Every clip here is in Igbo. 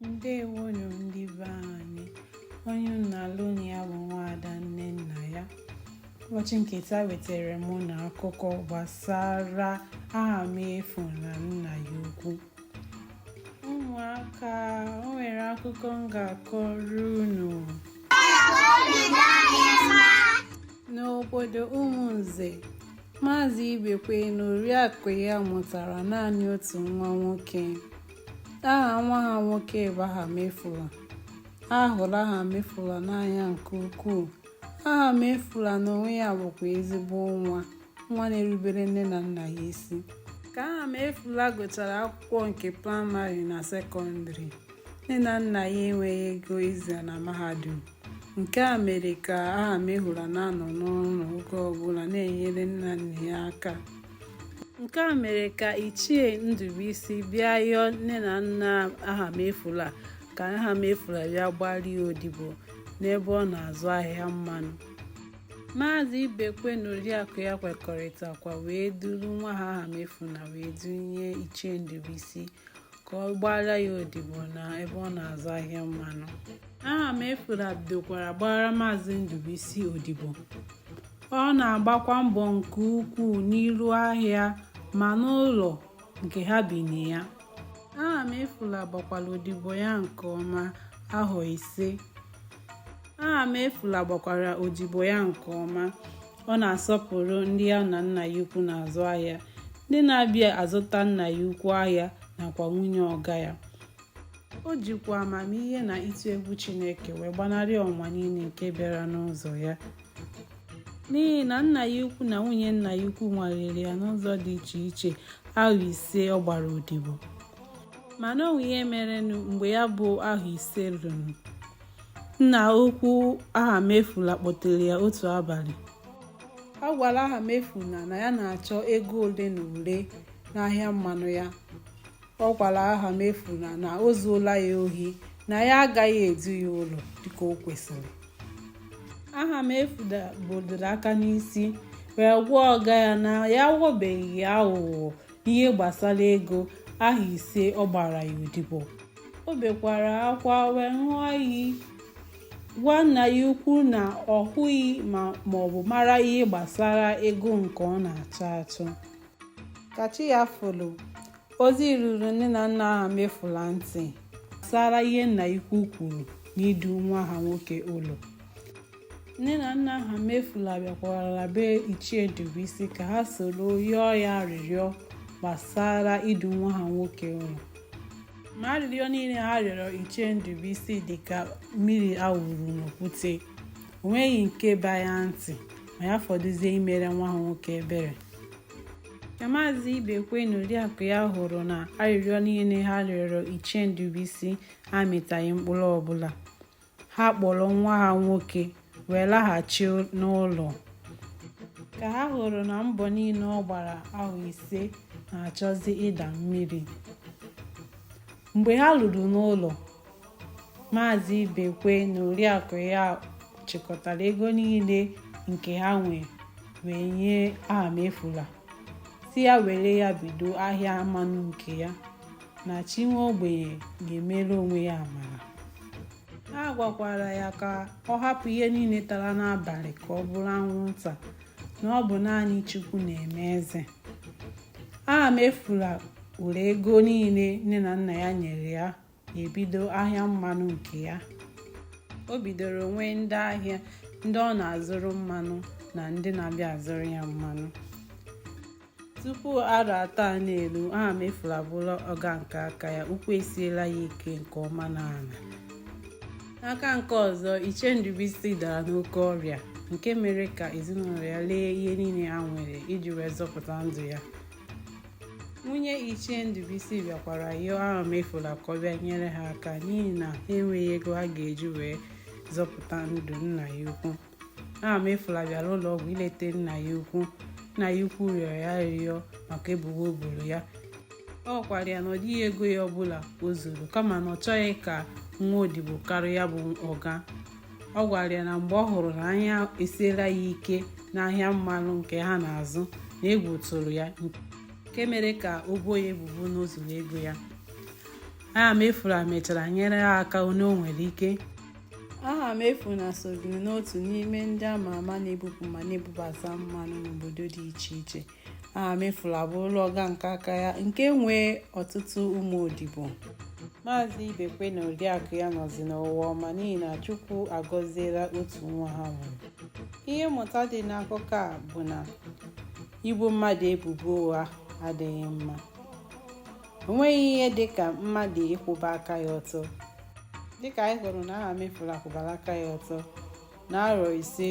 ndewonu ndị be anyị onye unu na-anụ olu ya bụ nwaada nnennaya ụbọchị nke taa wetara m unu akụkọ gbasara ahamefu na nna ya ukwu ụmụaka o nwere akụkọ m ga-akọrọ unu n'obodo ụmụnze maazị ibekwe na oriakụ ya mụtara naanị otu nwa nwoke aha nwa ha nwoke bụ ahamefula ha hụrụ ahamefula n'anya nke ukwuu ahamefula na onwe ya bụkwa ezigbo nwa nwa na-erubere nne na nna ya isi ka ahamefula gụchara akwụkwọ nke praịmarị na sekọndịrị nne na nna ya enweghị ego izi ya na mahadum nke a mere ka ahamefula na-anọ n'ụlọ oge ọbụla na-enyere nne na nna ya aka nke a mere ka ichie ndụbụisi bịa yọọ nne na nna ahamefula ka ahamefula bịa gbaara ya odibo n'ebe ọ na-azụ ahịa mmanụ maazị ibekwe na oriakụ ya kwekọrịtakwa wee duru nwa ha ahamefula wee dunye ichie ndụbụisi ka ọ gbaara ya odibo na ebe ọ na-azụ ahịa mmanụ ahamefula bidokwara gbara maazị ndụbụisi odibo Ọ na-agbakwa mbọ nke ukwuu n'ụlọ ahịa ma n'ụlọ nke ha bi na ya. Ahamefula gbakwara odibo ya nke ọma ahọ ise. Ahamefula gbakwara odibo ya nke ọma. Ọ na-asọpụrụ ndị ya na nna ya ukwu na-azụ ahịa, ndị na-abịa azụta nna ya ukwu ahịa nakwa nwunye ọga ya. O jikwa amamihe na ịtụ egwu Chineke wee gbanarị ọnwụnwa niile nke bịara n'ụzọ ya. n'ihi na nna ya ukwu na nwunye nna ya ukwu nwalere ya n'ụzọ dị iche iche ahọ ise ọ gbara odibo mana o nwere ihe merenụ mgbe ya bụ ahọ ise ruru nna ukwu ahamefula kpọtere ya otu abalị ọ gwara ahamefula na ya na-achọ ego ole na ole n'ahịa mmanụ ya ọ gwara ahamefula na o zuola ya ohi na ya agaghị edu ya ụlọ dịka o kwesịrị ahamefula bodoro aka n'isi wee gwa ọga ya na ya aghọbeghị ya aghụghọ n'ihe gbasara ego ahọ ise ọ gbara ya odibo o bekwara akwa wee ṅụọ iyi gwa nna ya ukwu na ọ hụghị ma ọ bụ mara ihe gbasara ego nke ọ na-achọ achọ ka chi ya foro ozi ruru nne na nna ahamefula ntị gbasara ihe nna ya ukwu kwuru n'idu nwa ha nwoke ụlọ nne na nna ahamefula bịakwara be ichie ndụbụisi ka ha soro yọọ ya arịrịọ gbasara idu nwa ha nwoke ụlọ ma arịrịọ niile ha rịọrọ ichie ndụbụisi dị ka mmiri a wụrụ n'okwute o nweghị nke ba ya ntị ma ya fọdụzie imere nwa ha nwoke ebere ka maazị ibekwe na oriakụ ya hụrụ na arịrịọ niile ha rịọrọ ichie ndụbụisi amịtaghị mkpụrụ ọbụla ha kpọrọ nwa ha nwoke wee laghachi n'ụlọ ka ha hụrụ na mbọ niile ọ gbara ahọ ise na-achọzi ịda mmiri mgbe ha ruru n'ụlọ maazị ibekwe na oriakụ ya chịkọtara ego niile nke ha nwe wee nye ahamefula sị ya were ya bido ahịa mmanụ nke ya na chi nwa ogbenye ga-emere onwe ya amara ha gwakwara ya ka ọ hapụ ihe niile tara n'abalị ka ọ bụrụ anwụnta na ọ bụ naanị Chukwu na-eme eze ahamefula were ego niile nne na nna ya nyere ya ebido ahịa mmanụ nke ya o bidoro nwee ndị ahịa ndị ọ na-azụrụ mmanụ na ndị na-abịa azụrụ ya mmanụ tupu arọ atọ a na-eru ahamefula abụrụla ọga nke aka ya ụkwụ esiela ya ike nke ọma n'ala n'aka nke ọzọ ichie ndụbụisi dara n'oke ọrịa nke mere ka ezinụlọ ya lee ihe niile ha nwere iji wee zọpụta ndụ ya nwunye ichie ndụbụisi bịakwara yọọ ahamefula ka ọ bịa nyere ha aka n'ihi na ha enweghị ego ha ga-eji wee zọpụta ndụ nna ya ukwu ahamefula bịara ụlọ ọgwụ ileta nna ya ukwu nna ya ukwu rịọrọ ya arịrịọ maka ebubo o boro ya ọ gwara ya na ọ dịghị ego ya ọbụla o zuru kama na ọ chọghị ka nwa odibo karịa ya bụ ọga ọ gwara ya na mgbe ọ hụrụ na anya esiela ya ike n'ahịa mmanụ nke ha na-azụ na egwu tụrụ ya nke mere ka o boo ya ebubo na o zuru ego ya ahamefula mechara nyere ha aka nke o nwere ike ahamefula soziri n'otu n'ime ndị ama ama na-ebupụ ma na-ebubata mmanụ n'obodo dị iche iche ahamefula abụrụla ọga nke aka ya nke nwee ọtụtụ ụmụ odibo maazị ibekwe na oriakụ ya nọzi n'ụwa ọma n'ihi na chukwu agọziela otu nwa ha mụrụ ihe mmụta dị n'akụkọ a bụ na ibo mmadụ ebubo ụgha adịghị mma o nweghị ihe dị ka mmadụ ịkwụba aka ya ọtọ dịka anyị hụrụ na ahamefula kwụbara aka ya ọtọ n'arọ ise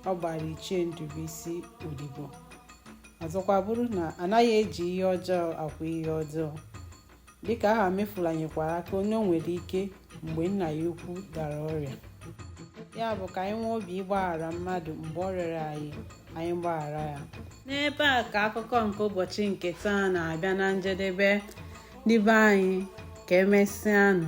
ọ gbara ichie ndụbụisi odibo ọzọkwa bụrụ na anaghị eji ihe ọjọọ akwụ ihe ọjọọ dịka ahamefula nyekwara aka onye o nwere ike mgbe nna ya ukwu dara ọrịa ya bụ ka anyị nwee obi ịgbaghara mmadụ mgbe ọ rịọrọ anyị anyị gbaghara ya n'ebe a ka akụkọ nke ụbọchị nke taa na-abịa na njedebe ndị be anyị ka emesịanụ